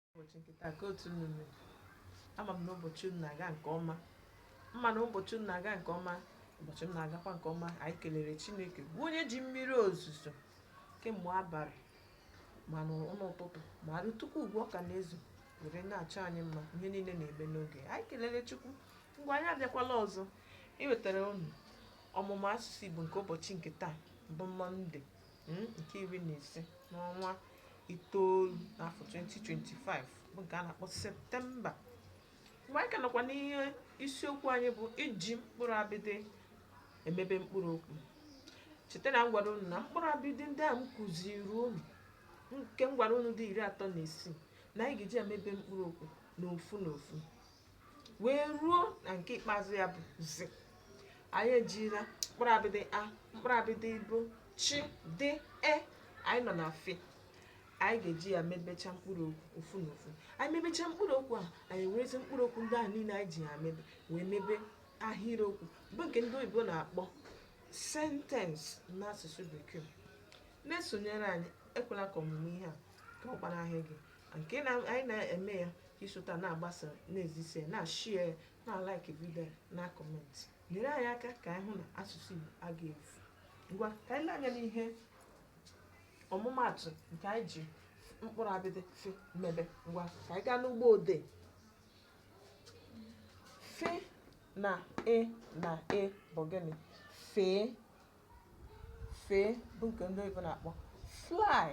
ụbọchị nke taa ka otu unu mere ama m na ụbọchị unu na-aga nke ọma m ma na ụbọchị unu na-aga nke ọma ụbọchị m na-agakwa nke ọma anyị kelere chineke bụ onye ji mmiri ozuzo kemgbe abalị ma n'ụtụtụ ma rutekwuo ugbu a ọ ka na-ezo were na-achọ anyị mma ihe niile na-eme n'oge anyị kelere chukwu ngwa anyị abịakwala ọzọ iwetara unu ọmụmụ asụsụ igbo nke ụbọchị nke taa bụ mọnde mm, nke iri na ise n'ọnwa itoolu n'afọ 2025 bụ nke a na-akpọ septemba ngwa anyị ka nọkwa n'ihe isiokwu anyị bụ iji mkpụrụ abịdị emebe mkpụrụ okwu cheta na m gwara unu na mkpụrụ abịdị ndị a m kụziri unu nke m gwara unu dị iri atọ na isii na anyị ga-eji emebe mkpụrụ okwu n'ofu n'ofu wee ruo na nke ikpeazụ ya bụ zi anyị ejila mkpụrụ abịdị a mkpụrụ abịdị bị chi dị e anyị nọ na fi anyị ga-eji ya mebecha mkpụrụ okwu ofu na ofu anyị mebecha mkpụrụ okwu a anyị werezi mkpụrụ okwu ndị ahụ niile anyị ji ya mebe wee mebe ahịrịokwu bụ nke ndị oyibo na-akpọ sentence n'asụsụ bekee na-esonyere anyị ekwela ka ọmụmụ ihe a ka ọ gbanahụ gị nke anyị na-eme ya i sota na-agbasa na-ezisa ya na-share na-like video na-comment nyere anyị aka ka anyị hụ na asụsụ Igbo agaghị efu ngwa ka anyị lee anya n'ihe ọmụmaatụ nke anyị ji mkpụrụ abịdị fi mebe ngwa ka anyị gaa n'ugbo odee fi na e na e bụ gịnị fee fee bụ nke ndị oyibo na-akpọ fly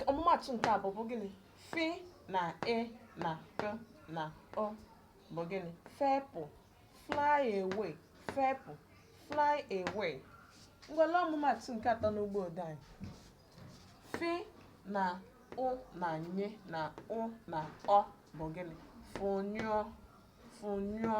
ọmụmatụ nke abụọ bụ gịnị fi na e na p na ụ bụ gịnị fepụ fly away fepụ fly away ngwa lee ọmụmatụ nke atọ n'ugbo odee anyị fi na ụ na nye na ụ na ọ bụ gịnị fụnyụọ fụnyụọ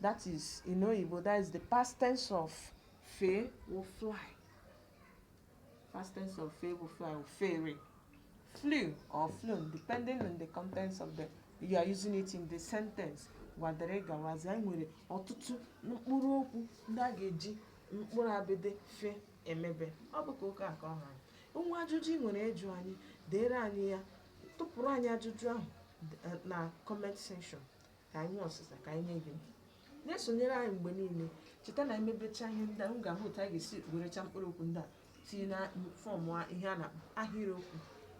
That is, in Oyibo, that is the past tense of fe bụ fly. Past tense of fe bụ fly o fere. Flew or flown, depending on the context of the you are using it in the sentence. Ngwa dere gawazi anyị nwere ọtụtụ mkpụrụ okwu ndị a ga-eji mkpụrụ abịdị fe emebe. Ọ bụ ka ụka nke ọha. O nwee ajụjụ ị nwere ịjụ anyị, deere anyị ya, tụpụrụ anyị ajụjụ ahụ na comment section. ka anyị nwee ọsịsa ka anyị nye gị na-esonyere anyị mgbe niile cheta na e mebecha ihe ndị a m ga-ahụ otu anyị ga-esi werecha mkpụrụ okwu ndị a tinye na form a- ihe a na-akpọ ahịrịokwu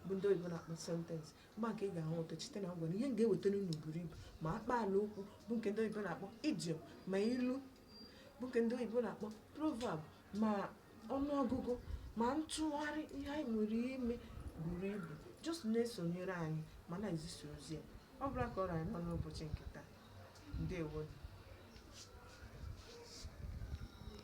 bụ ndị oyibo na-akpọ sentence mgbe ahụ ka ị ga-ahụ ụtọ cheta na m gwara na ihe m ga-ewetara unu buru ibu ma akpaala okwu bụ nke ndị oyibo na-akpọ idiom ma ilu bụ nke ndị oyibo na-akpọ proverb ma ọnụọgụgụ ma ntụgharị ihe anyị nwere ime buru ibu just na-esonyere anyị ma na-ezisa ozi a ọ bụla ka ọ ra anyị n'ọnụ ụbọchị nke taa ndewo